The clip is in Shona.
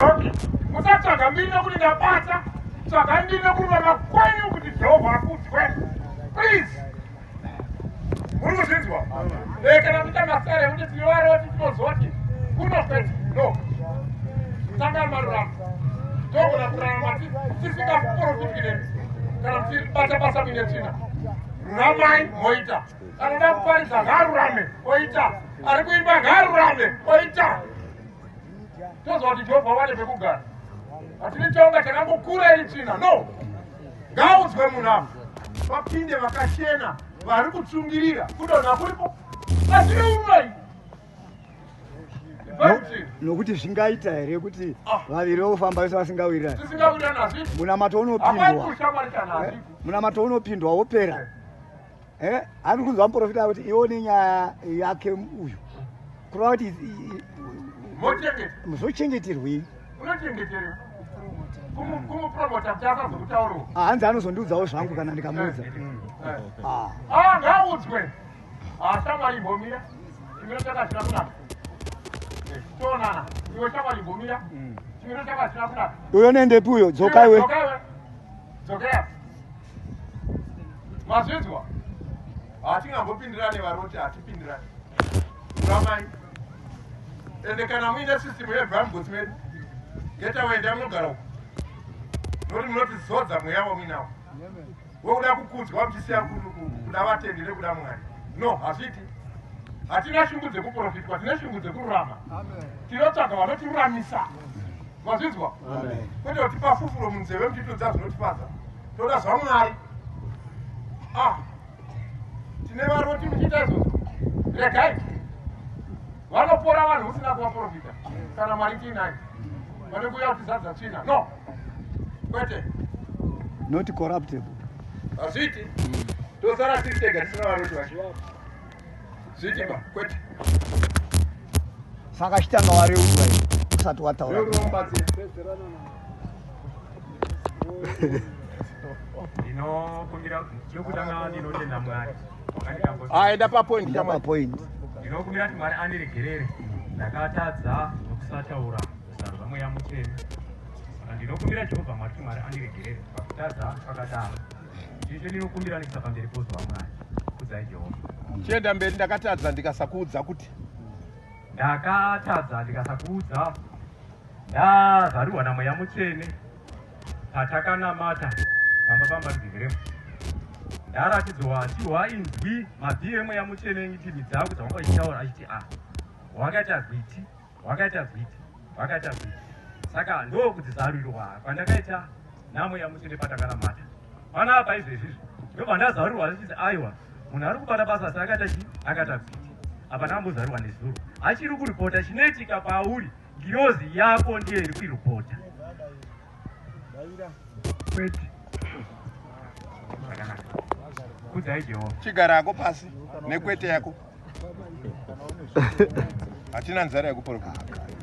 Okay. Musatsvaga mbiri nokuti ndapatsa. Tsvagai mbiri nokururama kwenyu kuti Jehovha akudzwe. Please. Muri kuzvinzwa? Eh, kana muita masere kuti tivaroti tinozoti kunofeti. No. Tanga marurama. Togona kurarama tisingaprofiti nemi. Kana tichibata basa mine tsvina. Ruramai moita. Anoda kuparidza ngaarurame oita. Ari kuimba ngaarurame oita. toziva kuti jehovha wane pekugara hatidi chonga chakangokura iri tsvina no ngaudzwe munhu avo vapinde vakachena vari kutsungirira kudonha kuripo asineumai nokuti zvingaita here kuti ah. vaviri vofamba vese vasingawirirani munamato unopindwa eh? munamato unopindwa wopera Eh, ani kunzwa muprofita kuti iwo nenyaya yake uyu kureva kuti muzochengeterwei ah, hanzi anozondiudzawo zvangu kana ndikamuudza eh, mm. eh. ah. ah, ngaudzwe shamwari imbomira chimiro chakasina kunaka tionana iwe shamwari imbomira mm. chimiro chakasina kunaka uyo nendepi uyo dzokaiwe dzokaiwe mazvinzwa hatingambopindirane varoti hatipindirane ramai ende kana muine system yevamgosi medu ngetawaenda munogara uku noti munotizodza mweya wamuinawo wokuda kukudzwa muchisiya kuda vatendi nekuda mwari no hazviti hatina shungu dzekuprofitwa tine shungu dzekururama tinotsvaga vanotiruramisa mazvinzwa kwete kutipa fufuro munzeve mutitodza zvinotifadza toda zvamwari ah, tine varoti muchiita izvozvo regai vanopora vanhu usina kuvaprofita kana mwari tiinai vane kuuya kuti zadza tsvina no kwete not corruptable hazviiti tosara tiri tega tisina varoti vachiwaa Zvitima kwete. Saka chitanga wareurwa iwe usati wataura. Reurwa mubatsira. Ndinokumbira chokutanga ndinotenda Mwari. Ah, enda pa point. Enda pa point. Ndinokumbira kuti Mwari andiregerere. Ndakatadza nokusataura kusarudza mweya mutsvene. Ndinokumbira Jehovha Mwari kuti Mwari andiregerere pakutadza pakadaro. Ndinokumbira nekuisa pamberi pozo waMwari. Kudzai Jehovha. Chienda mberi ndakatadza ndikasakuudza kuti. Ndakatadza ndikasakuudza. Ndazarurwa namweya mutsvene patakanamata pamba pamba ndiviremo. Ndaratidzwa chihwa inzwi mabvi emweya mutsvene ngitimi dzangu dzawanga uchitaura achiti a. Ah, Wakati agwiti. Hwakaita gwiti, hwakaita gwiti. Saka ndokudzizarurirwa kwandakaita nhamo yaMutsvene patakanamata. Pano apa izvezvizvi ndobva ndazarurirwa zvichizi aiwa munhu ari kubata basa asi akaita chii? Akaita gwiti. Apa ndakambozarurirwa nezuro. Achiri kuripota chinoitika pauri ngirozi yako ndiyo iri kuiripota. Kwete. Zvakanaka. Kudzai Jehovha. Chigara hako pasi nekwete yako. hatina nzara yekuporofita